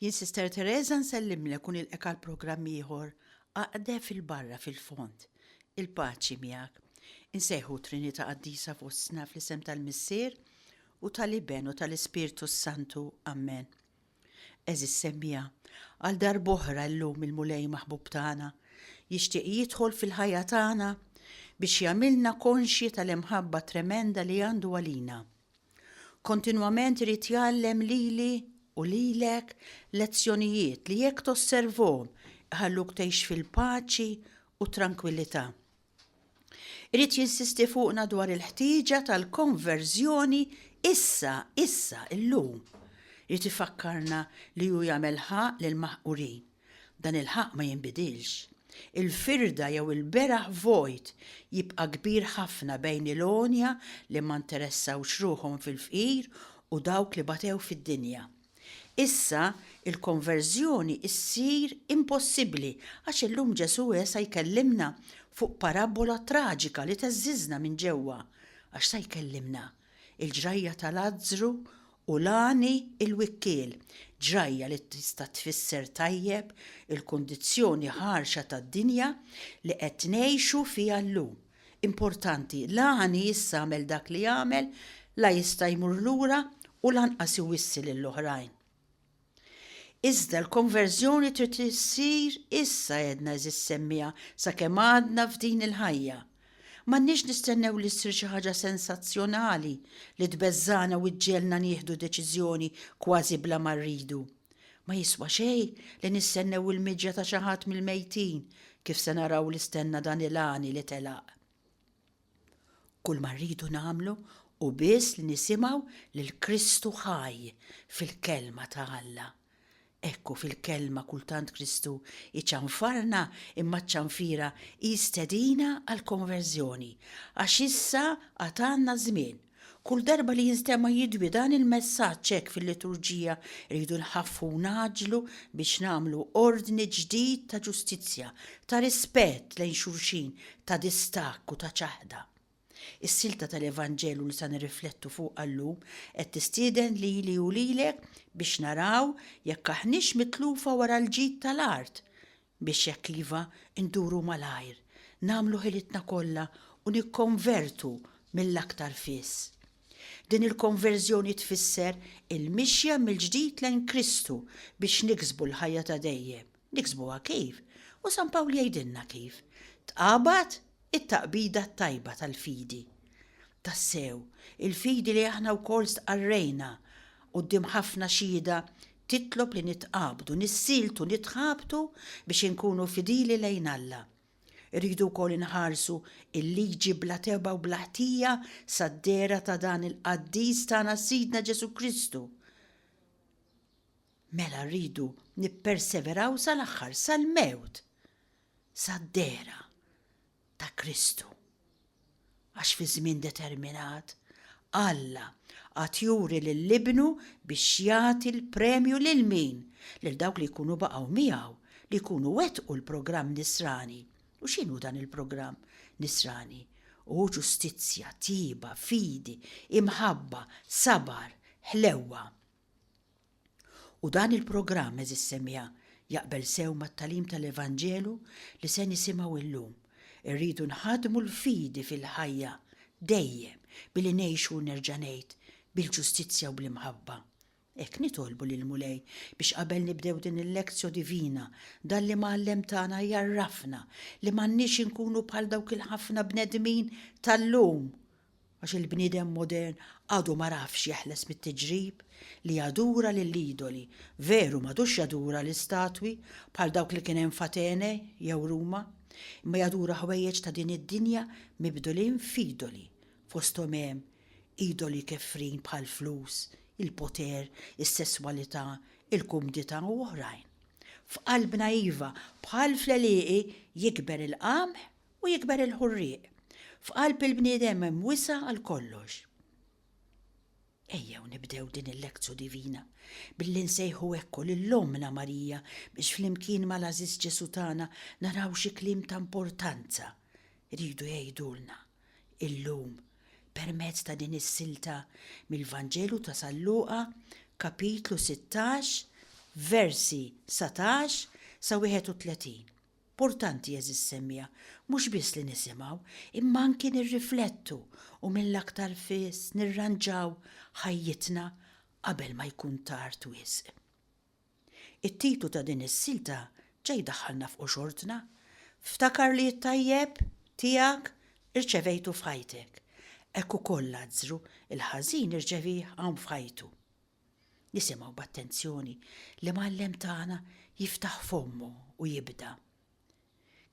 Jien Sister Teresa nsellimlek u nilqek għal programm ieħor aqde fil-barra fil-fond. Il-paċi miegħek. Insejħu t-Trinità Qaddisa fostna fl-isem tal-Missier u tal-Iben u tal-Ispirtu s-Santu. Ammen. Għeżiż semmiegħa, għal darb'oħra llum il-Mulej maħbub tagħna jixtieq jidħol fil-ħajja tagħna biex jagħmilna konxji tal-imħabba tremenda li għandu għalina. Kontinwament irid jgħallem lili u lilek lezzjonijiet li jekk tosservhom iħalluk tgħix fil-paċi u t-trankwillità. Irid jinsisti fuqna dwar il-ħtieġa tal-konverżjoni issa, issa, illum. Irid ifakkarna li hu jagħmel ħaqq lill-maħqurin. Dan il-ħaqq ma jinbidilx. Il-firda jew il-beraħ vojt jibqa' kbir ħafna bejn il-għonja li ma nteressawx ruħhom fil-fqir u dawk li batew fid-dinja. Issa, il-konverżjoni ssir impossibbli għax illum Ġesù e sa jkellimna fuq parabbola traġika li tgħeżżiżna minn ġewwa, għax sa jkellimna il-ġrajja ta' Lazzru u Lani il-wikkiel, ġrajja li tista' tfisser tajjeb il-kundizzjoni ħarxa tad-dinja li qed ngħixu fiha llum. Importanti, Lani issa għamel dak li għamel, la jista' jmur lura u lanqas iwissi lill-oħrajn. Iżda l-konverżjoni trid issir issa għedna għeżież semmiegħa sakemm għadna f'din il-ħajja. M'għandniex nistennew li ssir xi ħaġa sensazzjonali li tbeżżagħna u ġġegħelna nieħdu deċiżjoni kważi bla ma rridu. Ma jiswa xejn li nistennew il-miġja ta' xi ħadd mill-mejtin kif se naraw li stenna dan il-għani li telaq. Kull ma rridu nagħmlu hu biss li nisimgħu lil Kristu ħaj fil-Kelma ta' Alla. Hekk hu fil-Kelma kultant Kristu jċanfarna imma ċ-ċanfira hi stedina għall-konverżjoni għax issa għad għandna żmien. Kull darba li jinstema' jidwi dan il-messaġġ hekk fil-liturġija, irridu nħaffu u ngħaġġlu biex nagħmlu ordni ġdid ta' ġustizzja, ta' rispett lejn xulxin, ta' distakk u ta' ċaħda. Is-silta tal-Evanġelju li sa nirriflettu fuqha llum qed tistieden lili u lilek biex naraw jekk aħniex mitlufa wara l-ġid tal-art Biex jekk iva, induru malajr, nagħmlu ħilitna kollha u nikkonvertu mill-aktar fis. Din il-konverżjoni tfisser il-mixja mill-ġdid lejn Kristu biex niksbu l-ħajja ta' dejjem. Niksbuha kif? U San Pawl jgħidilna kif, Tqabad It-taqbida t-tajba tal-fidi. Tassew, il-fidi li aħna wkoll stqarrejna quddiem ħafna xhieda titlob li nitqabdu, nissieltu, nitħabtu biex inkunu fidili lejn Alla. Irridu wkoll inħarsu l-liġi bla tebgħa u bla ħtija sad-dehra ta' dan il-qaddis tagħna Sidna Ġesù Kristu. Mela rridu nipperseveraw sal-aħħar, sal-mewt! sad-dehra ta' Kristu. Għax fi żmien determinat, Alla għad juri lil Ibnu biex jagħti l-premju lil min? Lil dawk li jkunu baqgħu miegħu, li jkunu wettqu l-programm Nisrani. U x'inhu dan il-programm Nisrani? Hu ġustizzja, tjieba, fidi, imħabba, sabar, ħlewwa. U dan il-programm, għeżież semija, jaqbel sew mat-tagħlim tal-Evanġelu li se nisimgħu illum. Irridu nħaddmu l-fidi fil-ħajja, dejjem, billi ngħixu, nerġa' ngħid, bil-ġustizzja u bl-imħabba. Hekk nitolbu lill-Mulej biex qabel nibdew din il-lectio divina, dan l-Imgħallem tagħna jgħarrafna li m'għandniex inkunu bħal dawk il-ħafna bnedmin tal-lum Għax il-bniedem modern għadu ma rafx jeħles mit-tiġrib li jadura lill-idoli, veru m'għadux jadura l-istatwi bħal dawk li kien hemm f'Atene jew Ruma, imma jadura ħwejjeġ ta' din id-dinja mibdulin f'idoli, fosthom hemm idoli kefrin bħall-flus, il-poter, is-sesswalità, il-kumdità u oħrajn. F'qalbna iva, bħal fl-għelieqi, jikber il-qamħ u jikber il-ħurrieq. F'qalb il-bniedem hemm wisa' għal kollox. Ejjew nibdew din il-lektsu divina billi nsejħu ekku lil Ommna Marija biex flimkien mal-għażiż Ġesù tagħna naraw xi kliem ta' importanza jridu jgħidulna illum permezz ta' din is-silta mill-Vanġelu ta' San Luqa, Kapitlu sittax, versi satax sa wieħed u tletin. Mportanti, għeżież semmiegħa, mhux biss li nisimgħu, imma anki nirriflettu u mill-aktar fis nirranġaw ħajjitna qabel ma jkun tard wisq. It-titlu ta' din is-silta ġa jdaħħalna f'qxortna, Ftakar li t-tajjeb tiegħek irċevejtu f'ħajtek, hekk ukoll l-azzru, il-ħażin irċevieh hawn f'ħajtu. Nisimgħu b'attenzjoni l-Imgħallem tagħna jiftaħ fommu u jibda.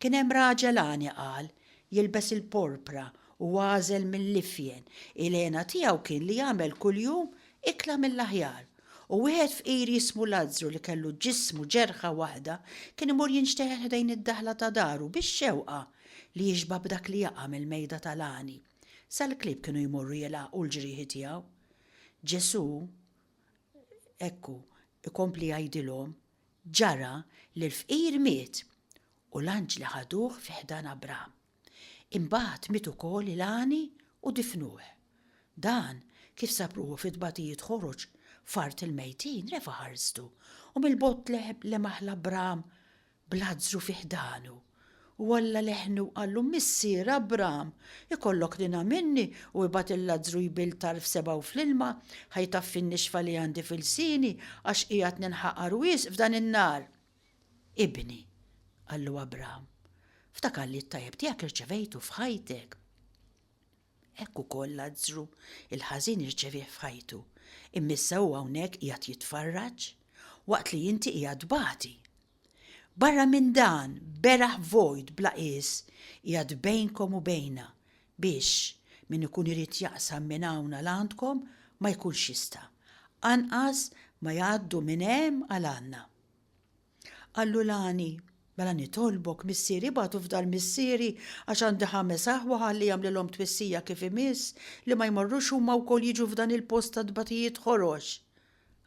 Kien hemm raġel għani qal, jilbes il-porpra u għażel mill-ifjen, il-hena tiegħu kien li jagħmel kuljum ikla mill-aħjar, u wieħed fqir jismu Lazzru li kellu ġismu ġerħa waħda kien imur jinxteħel ħdejn id-daħla ta' daru bix-xewqa li jixba' b'dak li jaqa' mill-mejda tal-għani. Sal-klieb kienu jmorru jilgħaqqu l-ġrieħi tiegħu. Ġesù, ekku, ikompli jgħidilhom, ġara li l-fqir miet u l-anġli ħaduh fi ħdan Abraham. Imbagħad miet ukoll il-għani u difnuh. Dan, kif sab ruħu fi tbatijiet ħoroġ f'art il-mejtin, refa' ħarstu, u mill-bogħod lemaħ 'l Abraham bl-azzru fi ħdanu. U Alla leħnu u qallu, Missier, Abram, ikollok tina minni u ibgħat il-lazzru jbill tarf sebgħu fl-ilma, ħa jtaffi n-nixfa li għandi f'ilsieni, għax qiegħed ninħaqar wisq f'dan in-nar. Ibni, qallu Abram, ftakar li t-tajjeb tiegħek irċevejtu f'ħajtek. Hekk ukoll Lazzru, il-ħażin irċevieh f'ħajtu, imma issa hu hawnhekk qiegħed jitfarraġ, waqt li inti qiegħed tbati. Barra minn dan, beraħ vojt bla qies qiegħed bejnkom u bejna, biex, min ikun irid jaqsam minn hawn għal għandkom, ma jkunx jista', anqas ma jgħaddu minn hemm għal għandna. Qallu l-għani, Mela nitolbok, missieri ibagħtu fdal missieri għax għandi ħames aħwa ħalli jagħmlilhom twissija kif imiss li ma jmorrux huma wkoll jiġu f'dan il-post ta' tbatijiet ħorox.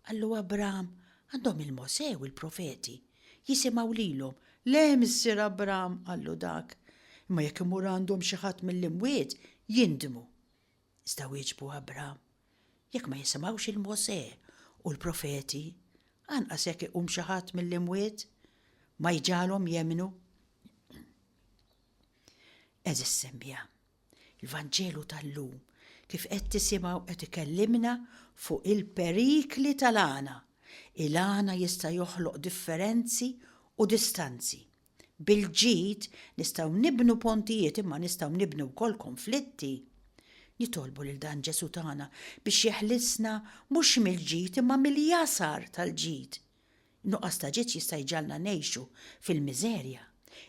Qallu Abram, Għandhom il-Mosè u l-profeti. Jisimgħu lilhom. Le, missier Abram, qallu dak, imma jekk imur għandhom xi ħadd mill-imwiet, jindmu. Iżda wieġbu Abram, Jekk ma jisimgħux il Mosè u l-profeti, anqas jekk iqum xi ħadd mill-imwiet, ma jġagħalhom jemmnu. Eżis semmija, il-Vanġelu tal-lum kif qed tisimgħu qed ikellimna fuq il-perikli tal-għana. Il-għana jista' joħloq differenzi u distanzi, Bil-ġid nistgħu nibnu pontijiet imma nistgħu nibnu wkoll konflitti. Nitolbu lil dan Ġesù tagħna biex jeħlisna mhux mill-ġid imma mill-jasar tal-ġid. Nuqqas ta' ġid jista' jġagħalna ngħixu fil-miżerja,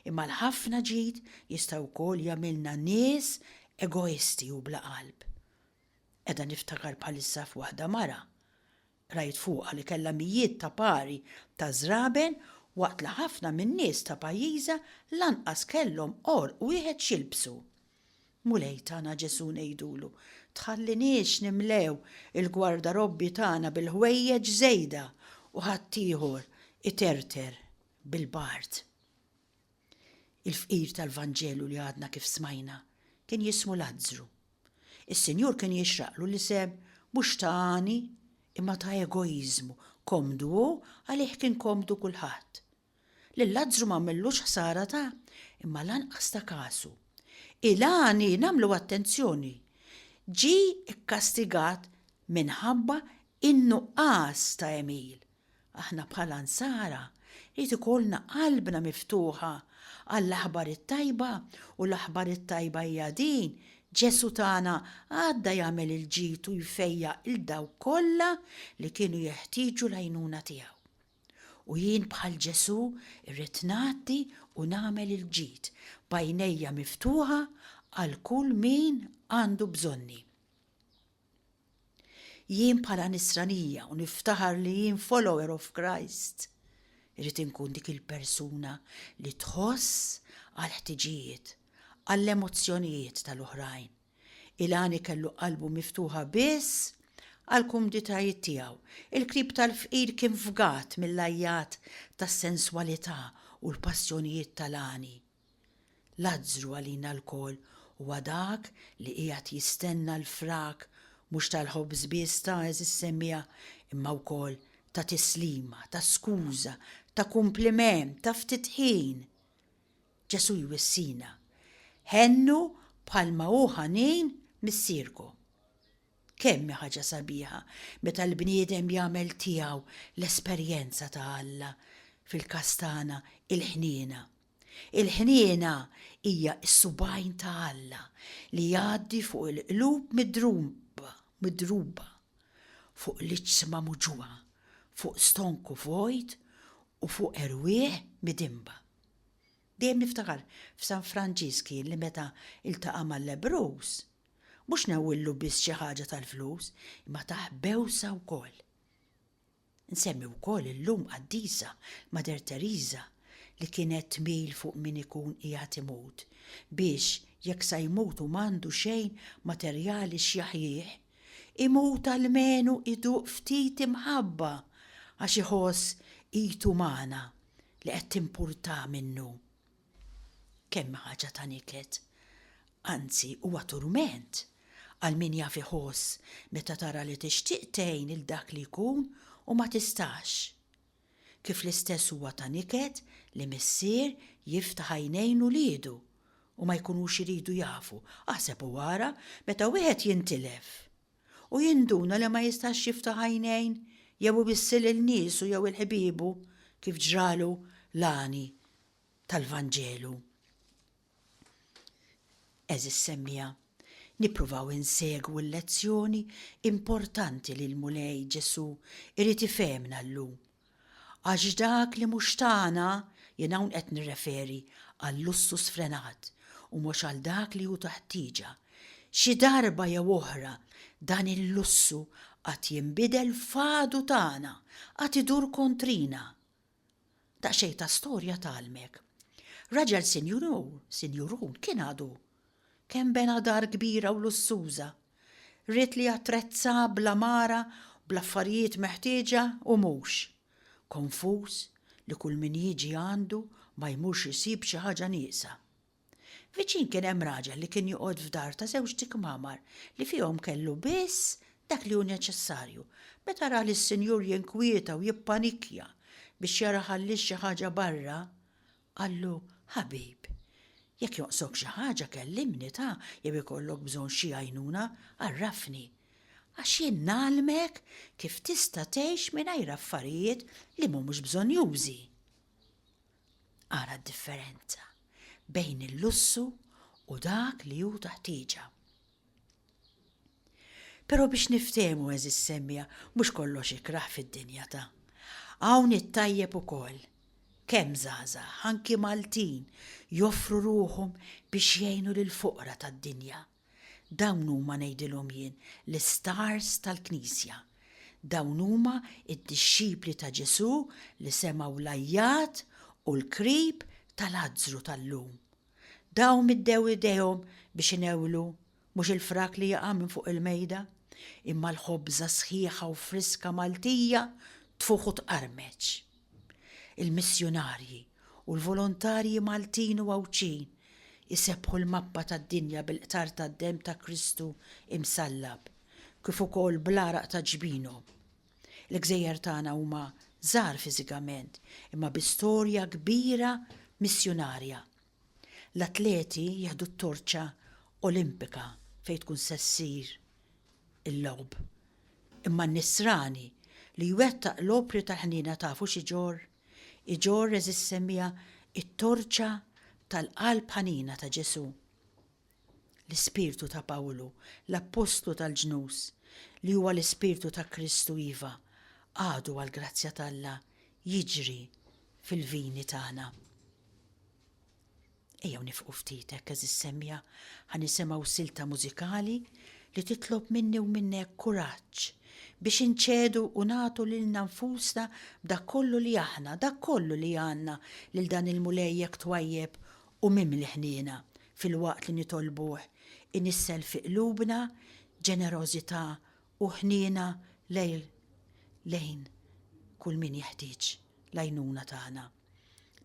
imma l-ħafna ġid jista' wkoll jagħmilna nies egoisti u bla qalb. Qiegħda niftakar bħalissa f'waħda mara Qrajt fuqha li kellha mijiet ta' pari ta' żraben waqt li ħafna min-nies ta' pajjiżha lanqas kellhom għorq wieħed x'jilbsu. Mulej tagħna Ġesù ngħidulu, tħalliniex nimlew il-gwardarobbji tagħna bil-ħwejjeġ żejda u ħaddieħor iterter bil-bard. Il-fqir tal-Vanġelu li għadna kif smajna kien jismu Lazzru. Is-Sinjur kien jixraqlu l-isem mhux ta' għani imma ta' egoiżmu, komdu hu għalih kien komdu kulħadd. Lil Lazzru m'għamillux ħsara ta' imma lanqas ta' kasu. Il-għani, nagħmlu attenzjoni, ġie kkastigat minħabba in-nuqqas ta' għemil, Aħna bħala Nsara jrid ikollna qalbna miftuħa għall-Aħbar it-Tajba u l-Aħbar it-Tajba hija din, Ġesù tagħna għadda jagħmel il-ġid u jfejjaq lil dawk kollha li kienu jeħtieġu l-għajnuna tiegħu. U jien bħal Ġesù rrid ngħaddi u nagħmel il-ġid, b'għajnejja miftuħa għal kull min għandu bżonni. Jien bħala Nisranija u niftaħar li jien follower of Christ, irrid inkun dik il-persuna li tħoss għall-ħtiġijiet, għall-emozzjonijiet tal-oħrajn. Ilani kellu qalbu miftuħa biss għall-kumditajiet tiegħu. Il-qrib tal-fqir kien fgat mill-għajjat tas-senswalità u l-passjonijiet tal-għani. Lazzru għalina lkoll huwa dak li qiegħed jistenna l-frak mhux tal-ħobż biss ta' is-semmiegħa imma wkoll ta' tislima, ta' skuża, ta' kumpliment, ta' ftit ħin. Ġesù jwissina, Ħennu bħalma hu ħanin Missierku. Kemm hi ħaġa sabiħa meta l-bniedem jagħmel tiegħu l-esperjenza ta' Alla, fil-każ tagħna il-ħniena. Il-ħniena hija s-subgħajn ta' Alla li jgħaddi fuq il-qlub midruba, fuq l-iġsma muġugħa, fuq stonku vojt u fuq erwieħ midinba. Dejjem niftakar f'San Franġisk jien li meta ltaqa' mal-lebbruż, mhux newwillu biss xi ħaġa tal-flus, imma tah bewsa wkoll. Nsemmi wkoll illum qaddisa, Mater Teresa, li kienet tmil fuq min ikun qiegħed imut, biex jekk sa jmut u m'għandu xejn materjali x'jaħjih, imut almenu iduq ftit imħabba għax iħoss id umana li qed timpurtah minnu. Kemm hi ħaġa ta' niket, anzi huwa turment għal min jaf iħoss meta tara li tixtieq tgħin lil dak li jkun u ma tistax. Kif l-istess huwa ta' niket li missier jiftaħ għajnejn uliedu u ma jkunux iridu jafu, aħseb u ara meta wieħed jintilef u jinduna li ma jistax jiftaħ għajnejn jew iwissi lil niesu jew il-ħbiebu kif ġralu l-għani tal-Vanġelu. Eżis semmija, nippruvaw insegwu l-lezzjoni importanti li l-Mulej Ġesù irid ifehmna llum. Għax dak li mhux tagħna, jien hawn qed nirreferi għal-lussu sfrenat u mhux għal dak li hu ta' ħtieġa, xi darba jew oħra dan il-lussu għad jinbidel f'għadu tagħna, għad idur kontrina. Daqsxejn ta' storja tgħallmek. Raġel sinjur hu, sinjur hu, kien għadu. Kemm bena dar kbira u lussuża. Ried li attrezza bl-għamara, bl-affarijiet meħtieġa u mhux. Konfuż li kull min jiġi għandu ma jmurx isib xi ħaġa nieqsa. Viċin kien hemm raġel li kien joqgħod f'dar ta' żewġt tikmamar li fihom kellu biss dak li hu neċessarju. Meta ra lis-sinjur jinkwieta u jippanikkja biex jara ħalliex xi ħaġa barra, qallu, Ħabib, jekk jonqsok xi ħaġa kellimni ta' jew ikollok bżonn xi għajnuna, għarrafni. Għax jien ngħallmek kif tista' tgħix mingħajr affarijiet li m'humux bżonnjużi. Ara d-differenza bejn il-lussu u dak li hu ta' ħtieġa. Però biex niftehmu eżis semmija mhux kollox ikrah fid-dinja ta' hawn it-tajjeb ukoll. Kemm żgħażagħ, anki Maltin, joffru ruħhom biex jgħinu lill-foqra tad-dinja. Dawn huma, ngħidilhom jien, l-istars tal-Knisja. Dawn huma d-dixxipli ta' Ġesù li semgħu l-għajjat u l-krib ta' Lazzru tal-lum. Dawn middew idejhom biex inewlu, mhux il-frak li jaqa' minn fuq il-mejda, imma l-ħobża sħiħa u friska Maltija tfugħ u tqarmeċ. Il-missjunarji u l-volontarji Maltin u Għawdxin isebbħu l-mappa tad-dinja bil-qtar tad-demm ta' Kristu imsallab, kif ukoll bl-għaraq ta' ġbinhom. Il-gżejjer tagħna huma żgħar fiżikament, imma bi storja kbira missjunarja. L-atleti jieħdu t-torċa Olimpika fejn tkun se ssir il-logħob. Imma n-Nisrani li jwettaq l-opri tal-ħniena tafu x'iġorr? Iġorr, għeżież semmiegħa, it-torċa tal-qalb ħanina ta' Ġesù. L-ispirtu ta' Pawlu, l-appostlu tal-ġnus, li huwa l-ispirtu ta' Kristu iva, għadu għall-grazzja t'Alla jiġri fil-vini tagħna. Ejjew nifqu ftit hekk għeżież semmiegħa, ħa nisimgħu silta mużikali li titlob minni u minnek kuraġġ biex inċedu u nagħtu lilna nfusna b'dak kollu li aħna, dak kollu li għandna lil dan il-Mulej hekk twajjeb u mimli ħniena filwaqt li nitolbuh inissel fi qlubna ġenerożità u ħniena lejn kull min jeħtieġ l-għajnuna tagħna.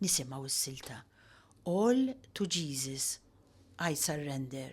Nisimgħu s-silta All to Jesus I Surrender.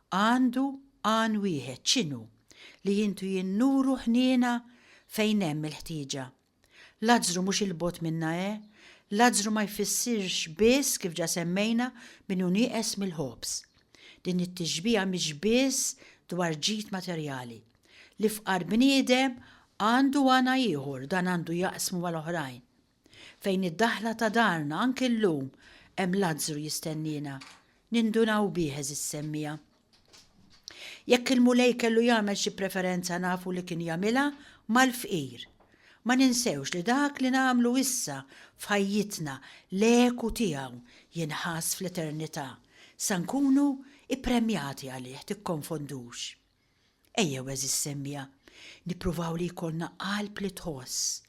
Għandu għan wieħed, x'inhu? Li jintu jien nuru ħniena fejn hemm il-ħtieġa. Lazzru mhux 'il bogħod minna he? Lazzru ma jfissirx biss, kif ġa semmejna, min hu nieqes mill-ħobż. Din it-tixbiha mhix biss dwar ġid materjali. L-ifqar bniedem għandu għana ieħor, dan għandu jaqsmu mal-oħrajn. Fejn id-daħla ta' darna anki llum hemm Lazzru jistenniena, nindunaw bih, għeżież semmiegħa. Jekk il-Mulej kellu jagħmel xi preferenza nafu li kien jagħmilha mal-fqir. Ma ninsewx li dak li nagħmlu issa f'ħajjitna l-eku tiegħu jinħass fl-eternità, sa nkunu ippremjati għalih, tikkonfondux. Ejjew, għeżież semmiegħa, nippruvaw li jkollna qalb li tħoss,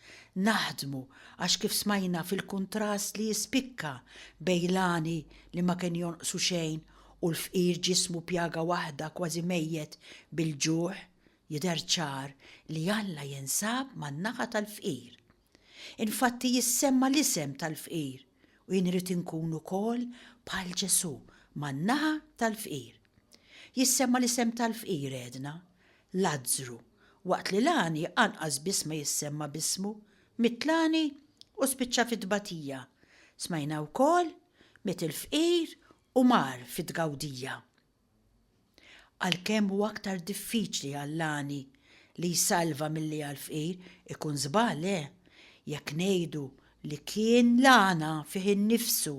naħdmu għax kif smajna fil-kuntrast li jispikka bejn l-għani li ma kien jonqsu xejn u l-fqir ġismu pjaga waħda kważi mejjet bil-ġuħ, jidher ċar li Alla jinsab man-naħa tal-fqir. Infatti jissemma l-isem tal-fqir u jien irrid inkun ukoll bħal Ġesù man-naħa tal-fqir. Jissemma l-isem tal-fqir għedna, Lazzru, waqt li l-għani anqas biss ma jissemma b'ismu, miet l-għani u spiċċa fit-tbatija. Smajna wkoll, miet il-fqir u mar fit-tgawdija. Għalkemm hu aktar diffiċli għall-għani li jsalva milli għall-fqir, ikun żball, eh, jekk ngħidu li kien l-għana fih innifsu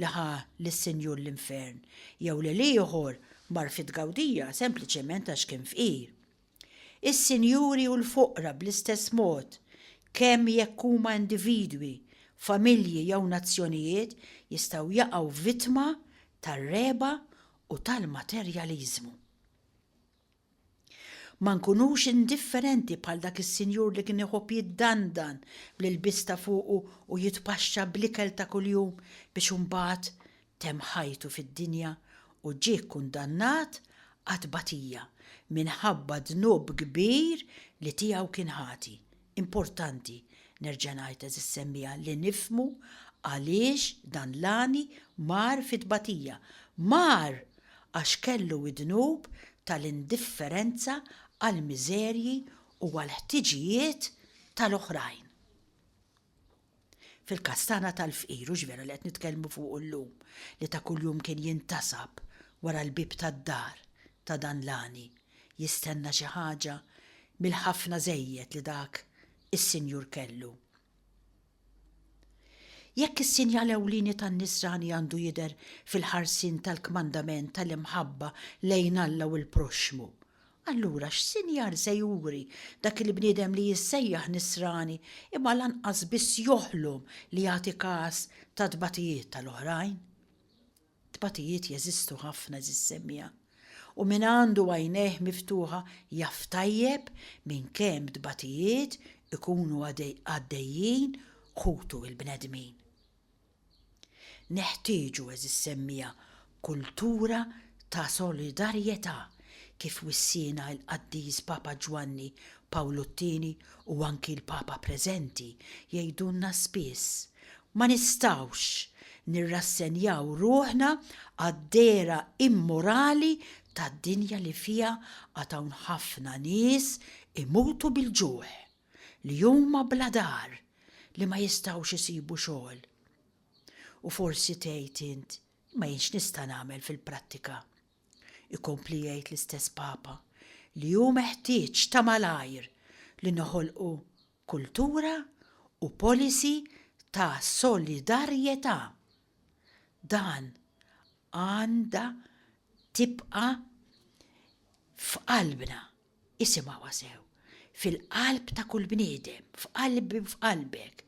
li ħa lis-Sinjur l-infern, jew li l-ieħor mar fit-tgawdija sempliċement għax kien fqir. Is-sinjuri u l-foqra bl-istess mod, kemm jekk huma individwi, familji jew nazzjonijiet, jistgħu jaqgħu vittma tar-regħba u tal-materjaliżmu. Ma nkunux indifferenti bħal dak is-sinjur li kien iħobb jiddandan bl-ilbies ta' fuqu u jitpaxxa bl-ikel ta' kuljum biex imbagħad temm ħajtu fid-dinja u ġie kkundannat għat-tbatija minħabba dnub kbir li tiegħu kien ħati. Importanti, nerġa' ngħid għeżież semmiegħa, li nifhmu għaliex dan l-għani mar fit-tbatija. Mar għax kellu d-dnub tal-indifferenza għall-miżerji u għall-ħtiġijiet tal-oħrajn. Fil-każ tagħna tal-fqir, hux vera li qed nitkellmu fuqu llum, li ta' kuljum kien jintasab wara l-bieb tad-dar ta' dan l-għani, jistenna xi ħaġa mill-ħafna żejjed li dak is-sinjur kellu? Jekk is-sinjal ewlieni tan-nisrani għandu jidher fil-ħarsien tal-kmandament tal-imħabba lejn Alla u l-proxxmu, Allura x'sinjal se juri dak il-bniedem li jissejjaħ Nisrani imma lanqas biss joħlom li jagħti kas tat-tbatijiet tal-oħrajn? Tbatijiet jeżistu ħafna, għeżież semmiegħa, u min għandu għajnejh miftuħa jaf tajjeb minn kemm tbatijiet ikunu għaddejjin ħutu l-bnedmin. Neħtieġu, għeżież semmiegħa, kultura ta' solidarjetà, kif wissiena l-Qaddis Papa Ġwanni Pawlu t-Tieni u anki l-Papa preżenti jgħidulna spiss, ma nistgħux nirrassenjaw ruħna għad-dehra immorali ta' dinja li fiha għad hawn ħafna nies imutu bil-ġuħ. li huma bla dar, li ma jistgħux isibu xogħol. U forsi tgħid int, imma jien x'nista' nagħmel fil-prattika? Ikompli jgħid l-istess Papa li hu meħtieġ ta' malajr li noħolqu kultura u policy ta' solidarjetà. Dan għandha tibqa' f'qalbna. Isimgħuha sew, fil-qalb ta' kull bniedem, f'qalbi u f'qalbek,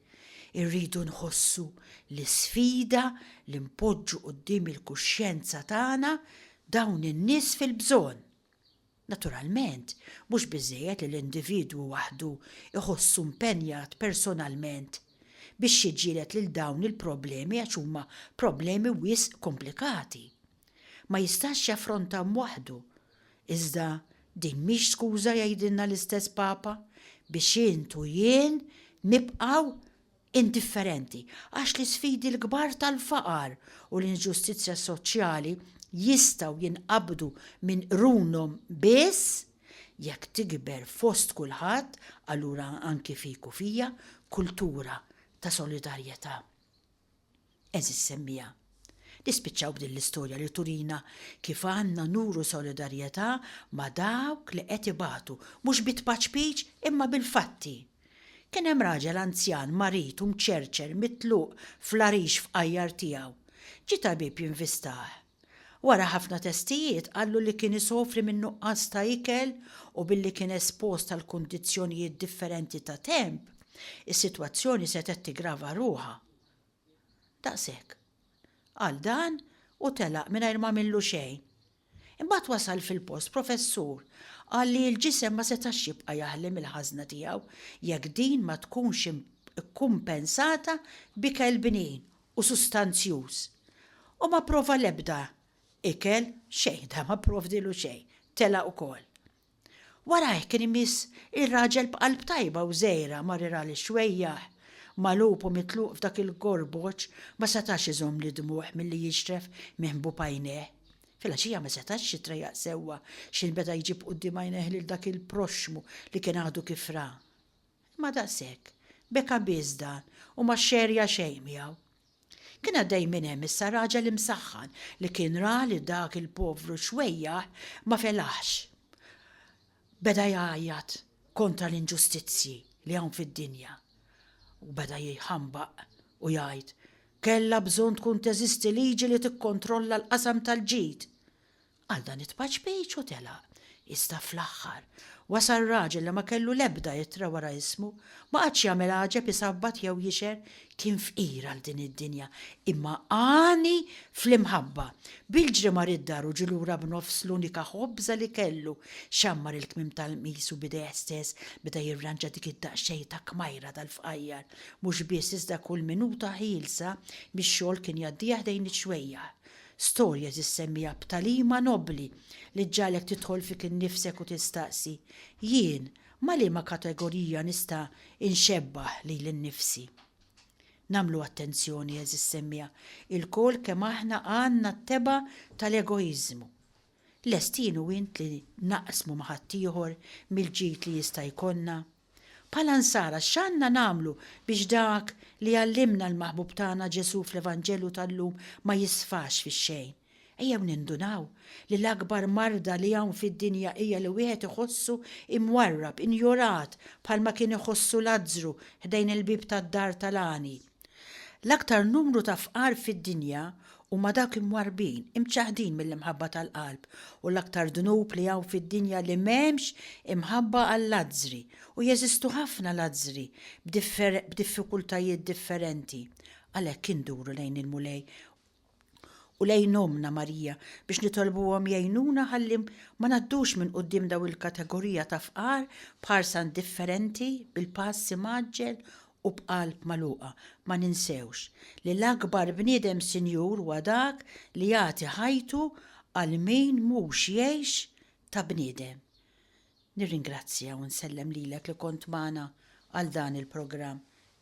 irridu nħossu l-isfida li npoġġu quddiem il-kuxjenza tagħna dawn in-nies fil-bżonn. Naturalment, mhux biżżejjed li l-individwu waħdu jħossu mpenjat personalment biex jiġġieled lil dawn il-problemi għax huma problemi wisq komplikati. Ma jistax jaffronthom waħdu. Iżda din mhix skuża jgħidilna l-istess Papa biex int u jien nibqgħu indifferenti għax l-isfidi l-kbar tal-faqar u l-inġustizzja soċjali jistgħu jinqabdu minn qrunhom biss jekk tikber fost kulħadd, allura anki fik u fija, kultura ta' solidarjetà. Għeżież semmiegħa, nispiċċaw b'din l-istorja li turina kif għandna nuru solidarjetà ma' dawk li qed ibatu, mhux bi tpaċpiċ imma bil-fatti. Kien hemm raġel anzjan marid u mċerċer mitluq fl-għarix fqajjar tiegħu. Ġie tabib jinvistah. Wara ħafna testijiet qallu li kien isofri minn nuqqas ta' ikel u billi kien espost għal kundizzjonijiet differenti ta' temp, is-sitwazzjoni setgħet tiggrava ruħha. Daqshekk. Qal dan u telaq mingħajr ma għamillu xejn. Imbagħad wasal fil-post professur qal li l-ġisem ma setax jibqa' jaħli mill-ħażna tiegħu jekk din ma tkunx ikkumpensata b'ikel bnin u sustanzjuż u ma pprova l-ebda ikel, xejn, dan ma pprovdielu xejn, telaq ukoll. Warajh kien imiss ir-raġel b'qalb tajba u żgħira mar ir għal ix-xwejjaħ, magħlub u mitluq f'dak il-gorboċ ma setax iżomm lid-dmugħ milli jixref minn ħbub għajnejh. Filgħaxija ma setax jitrejaq sewwa x'inbeda jġib quddiem għajnejh lil dak il-proxxmu li kien għadu kif ra. Imma daqshekk, beka biss dan u ma xxerja xejn miegħu. Kien għaddej minn hemm issa raġel imsaħħan li kien ra li dak il-povru xwejjaħ ma felaħx. Beda jgħajjat kontra l-inġustizzji li hawn fid-dinja u beda jħambaq u jgħid, Kellha bżonn tkun teżisti liġi li tikkontrolla l-qasam tal-ġid! Għal dan it-tpaċpejċ hu telaq. Iżda fl-aħħar, wasal raġel li ma kellu l-ebda ittra wara ismu, ma qagħadx jagħmel għaġeb isabbat jew jixher, kien fqir għal din id-dinja, imma għani fl-imħabba. Bil-ġri mar id-dar u ġie lura b'nofs l-unika ħobża li kellu, xammar il-kmiem tal-qmis u b'idejh stess beda jirranġa dik id-daqsxejn ta' kmajra tal-fqajjar. Mhux biss iżda kull minuta ħielsa mix-xogħol kien jgħaddieha ħdejn ix-xwejjaħ. Storja tissemmija b'tagħlima nobbli li ġġagħlek tidħol fik innifsek u tistaqsi, Jien ma' liema kategorija nista' inxebbah lili nnifsi? Nagħmlu attenzjoni, għeżież semmiegħa, ilkoll kemm aħna għandna t-tebgħa tal-egoiżmu. Lest jien u int li naqsmu ma' ħaddieħor mill-ġid li jista' jkollna? Bħala Nsara x'għandna nagħmlu biex dak li għallimna l-Maħbub tagħna Ġesù fl-Evanġelju tal-lum ma jisfax fix-xejn? Ejjew nindunaw li l-akbar marda li hawn fid-dinja hija li wieħed iħossu imwarrab, injorat bħalma kien iħossu Lazzru ħdejn il-bieb tad-dar tal-għani. L-aktar numru ta' fqar fid-dinja huma dawk imwarrbin, imċaħħdin mill-imħabba tal-qalb, u l-aktar dnub li hawn fid-dinja li m'hemmx imħabba għal-lazzri, u jeżistu ħafna lazzri b'diffikultajiet differenti. Għalhekk induru lejn il-Mulej u lejn Ommna Marija biex nitolbuhom jgħinuna ħalli ma ngħaddux minn quddiem daw il-kategorija ta' fqar b'ħarsa indifferenti, bil-pass imgħaġġel u b'qalb magħluqa. Ma ninsewx li l-akbar bniedem sinjur huwa dak li jagħti ħajtu għal min mhux jgħix ta' bniedem. Nirringrazzja u nsellem lilek li kont magħna għal dan il-programm.